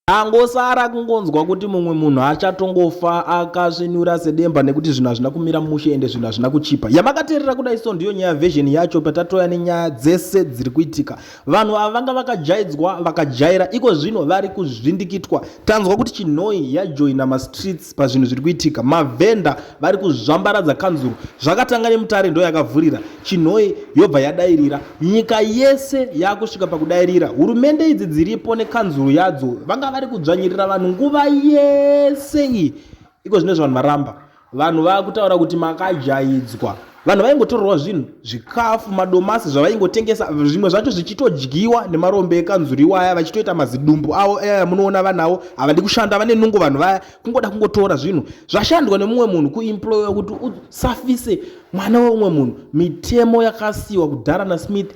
Angosara kungonzwa kuti mumwe munhu achatongofa akasvinura sedemba nekuti zvinhu hazvina kumira mushe ende zvinhu hazvina kuchipa. Yamakateerera kudai so ndiyo nyaya version yacho patatoya nenyaya dzese dziri kuitika. Vanhu ava vanga vakajaidzwa vakajaira iko zvino vari kuzvindikitwa. Tanzwa kuti chinhoi yajoina mastreets pazvinhu zviri kuitika. Mavhenda vari kuzvambaradza kanzuru zvakatanga nemutare ndo yakavhurira chinhoyi yobva yadairira nyika yese yakusvika pakudairira hurumende idzi dziripo nekanzuru yadzo vanga vari kudzvanyirira vanhu nguva yese iyi iko zvine zvavanhu varamba vanhu vakutaura kuti makajaidzwa vanhu vaingotorerwa zvinhu zvikafu madomasi zvavaingotengesa zvimwe zvacho zvichitodyiwa nemarombe ekanzuru iwaya vachitoita mazidumbu avo aya munoona vanawo havadi kushanda vane nungo vanhu vaya kungoda kungotora zvinhu zvashandwa nemumwe munhu kuemploya kuti usafise mwana weumwe munhu mitemo yakasiyiwa kudhara nasmith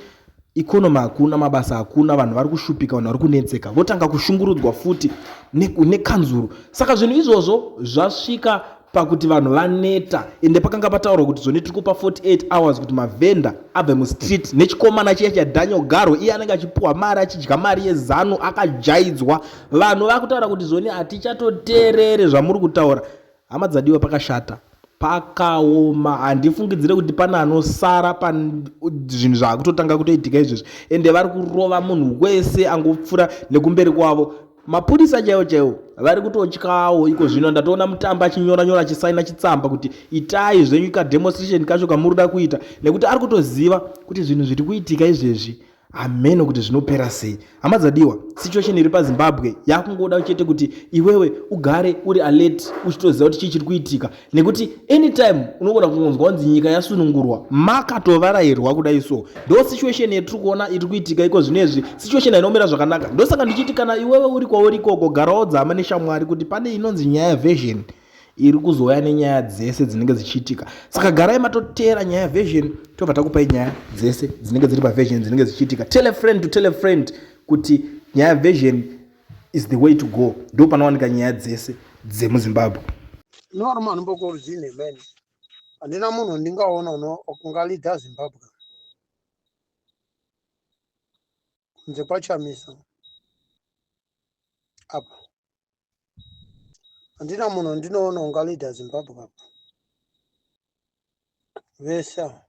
economy hakuna mabasa hakuna vanhu vari kushupika vanhu vari kunetseka votanga kushungurudzwa futi nekanzuru ne saka zvinhu izvozvo zvasvika pakuti vanhu vaneta ende pakanga pataurwa kuti zvone tiri kupa 48 hours kuti mavhenda abve mustreet nechikomana chiya chadaniel garo iye anenge achipuwa mari achidya mari yezanu akajaidzwa vanhu vakutaura kuti zvoni hatichatoteerere zvamuri kutaura hama dzadiwa pakashata pakaoma handifungidzire kuti pane anosara pazvinhu zvaakutotanga kutoitika izvezvi ende vari kurova munhu wese angopfura nekumberi kwavo mapurisa chaiwo chaiwo vari kutotyawo iko zvino ndatoona mutambi achinyora nyora achisaina chitsamba kuti itai zvenyu kademonstration kacho kamuri da kuita nekuti ari kutoziva kuti zvinhu zviri kuitika izvezvi hameno kuti zvinopera sei hama dzadiwa situation iri pazimbabwe yakungoda chete kuti iwewe ugare uri alert uchitoziva kuti chii chiri kuitika nekuti anytime unogona kungonzwa kunzi nyika yasunungurwa makatovarairwa kudai so ndo situation yetiri kuona iri kuitika iko zvino izvi situation hainomira zvakanaka ndosaka ndichiti kana iwewe uri kwauri ikoko garawo dzama neshamwari kuti pane inonzi nyaya version iri kuzouya nenyaya dzese dzinenge dzichiitika saka garai matoteera nyaya yaversion tobva takupai nyaya dzese dzinenge dziri paversion dzinenge dzichiitika tell a friend to tell a friend kuti nyaya yaversion is the way to go ndo panowanika nyaya dzese dzemuzimbabwe normal mbokorzine man handina munhu wandingaona ungalida zimbabwe kunze kwachamisa apa handina munhu ndinoona unga leader zimbabwe apa vese ava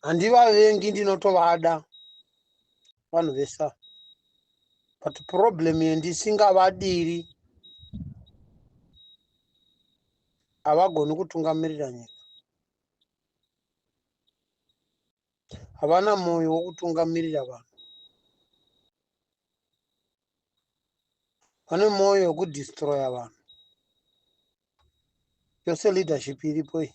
handivavengi ndinotovada vanhu vese ava but problem yendisingavadiri havagoni kutungamirira nyika havana mwoyo wokutungamirira vanhu vane mwoyo wekudistroya vanhu yose leadership iripo iyi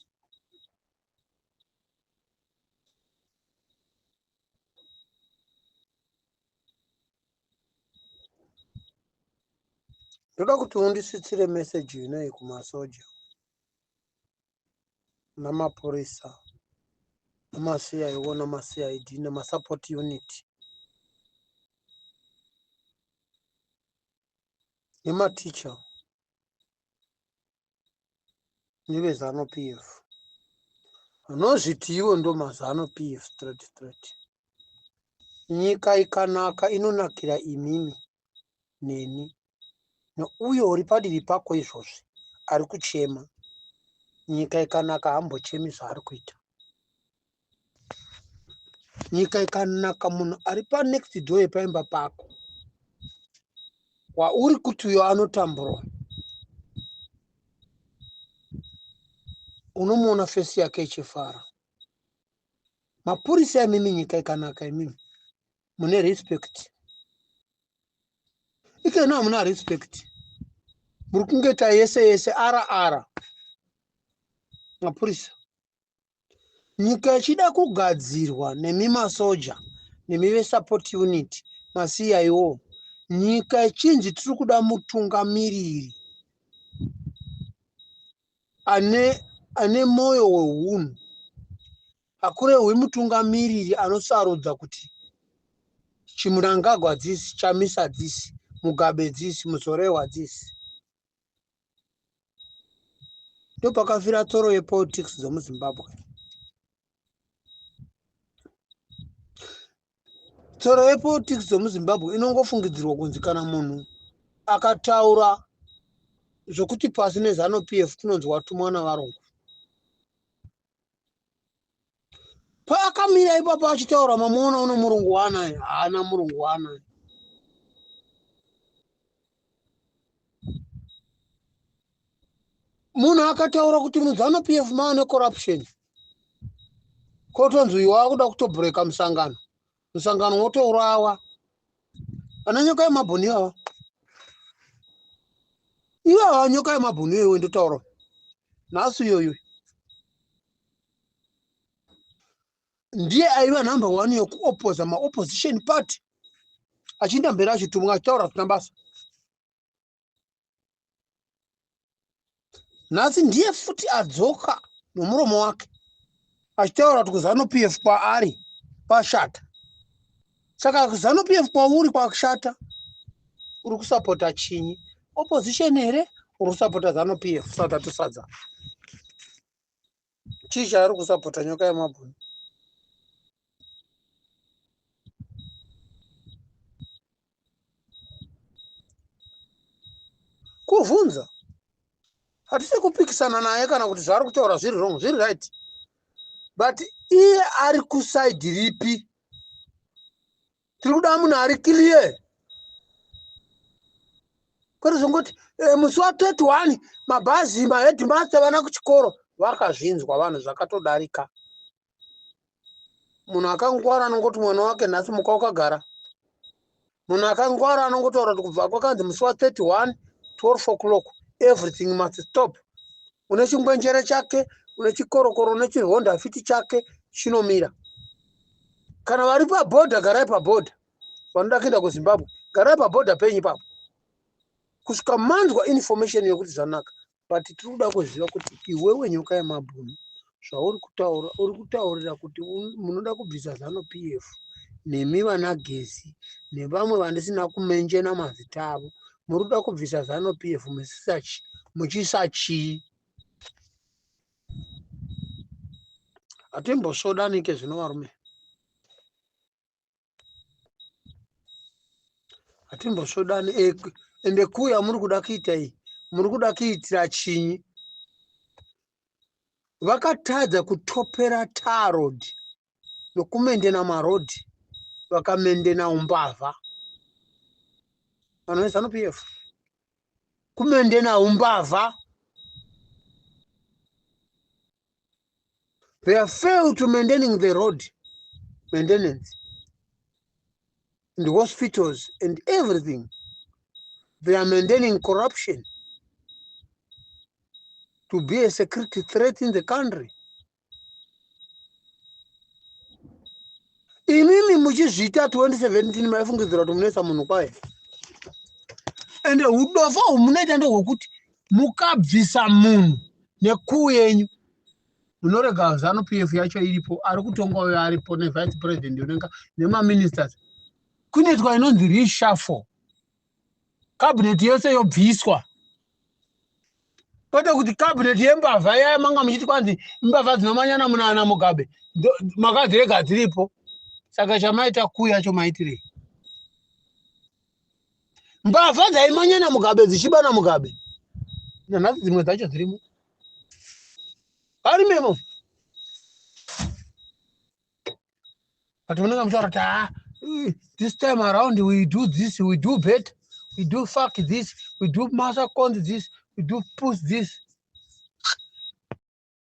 ndoda kuti undisvitsire meseji inoyi kumasoja namapurisa namacio namacid nemasupport unit nematicha nevezano p f vanozviti ivo ndo mazano p f straight straight nyika ikanaka inonakira imimi neni Neuyo uri padivi pako izvozvi ari kuchema. Nyika ikanaka hambochemi zvaari kuita. Nyika ikanaka munhu ari pa next door yepaimba pako wauri kuti uyo anotambura unomuona fesi yake ichifara mapurisa imimi nyika ikanaka imimi mune respect ikena hamuna respect muri kungeta yese yese ara ara mapurisa nyika ichida kugadzirwa nemi masoja nemi vesupport unit masiyaiwo nyika ichinzi tiri kuda mutungamiriri ane ane mwoyo wehunhu Hakurehwi mutungamiriri anosarudza kuti Chimnangagwa this, Chamisa this, Mugabe this, Muzorewa this. Ndopakafira tsoro yepolitics dzomuZimbabwe. tsoro yepolitics dzomuzimbabwe inongofungidzirwa kunzi kana munhu akataura zvokuti pasi nezano p f kunonzi watumwa navarungu paakamira ipapo achitaura mamuona uno murungu waanaye haana murungu waanaye munhu akataura kuti muzano p f maane corruption kotonzi uyu wakuda kutobhureka musangano musangano wotourawa vana nyoka yemabhoni ivava ivava nyoka yemabhoni iyoiwe ndotaura nhasi iyoyo ndiye aiva number one yokuopoza maopposition party achienda mberi achitumwa achitaura zvisina basa nhasi ndiye futi adzoka nomuromo wake achitaura kuti kuzanu p f kwaari kwashata saka kuzanu p f kwauri kwakushata uri kusapota chinyi opposition here uri kusapota zanu p f south atosadza chii chaari kusapota nyoka yemabhunu kuvhunza hatisi kupikisana naye kana kuti zvaari kutaura zviri wrong zviri right but iye ari kusaidi ripi tiri kuda munhu ari clear kwete zvongoti eh, musi wa 31 mabhazi maheadmaster vana kuchikoro vakazvinzwa vanhu zvakatodarika munhu akangwara anongoti mwana wake nhasi muka wakagara munhu akangwara anongotaura kuti kubva kwakanzi musi wa 31 12 o'clock everything must stop une chingwenjere chake une chikorokoro une chihonda fiti chake chinomira kana vari pabhodha garai pabhodha vanoda kuenda kuzimbabwe garai pabhodha penyu papo kusvika manzwa information yekuti zvanaka but tiri kuda kuziva kuti iwewe nyoka yemabhunu zvauri kutaura uri kutaurira kuti munoda kubvisa zanu p f nemi vana gezi nevamwe vandisina kumenjena mazita avo muri kuda kubvisa zanu p f musisachi muchiisa chii hatimbosvodanike zvino varume hatimbosvodani ende kuya muri kuda kuita iyi muri kuda kuitira chinyi vakatadza kutopera tarod nokumendena marodhi vakamendena umbavha vanhu vezanu p f kumendena umbavha they are failed to maintaining the road maintenance and hospitals and everything they are maintaining corruption to be a security threat in the country imimi muchizviita 2017 maifungidzira kuti munoisa munhu kwaye ende udofo humunoita ndohwekuti mukabvisa munhu nekuu yenyu munorega zanu p f yacho iripo ari kutonga uyo aripo nevice president unenga nemaministers kunoitwa inonzi reshafo kabineti yose yobviswa kwete kuti kabineti yembavha yaya manga muchiti kwanzi imbavha dzinomanyana munana mugabe makadzirega dziripo saka chamaita kuyacho maitirei mbavha dzaimanya namugabe dzichiba namugabe nanhasi dzimwe dzacho dzirimo ari memo but munenge muchitaura kuti ha ah, this time around we do this we do bet we do fuck this we do masaconzi this we do push this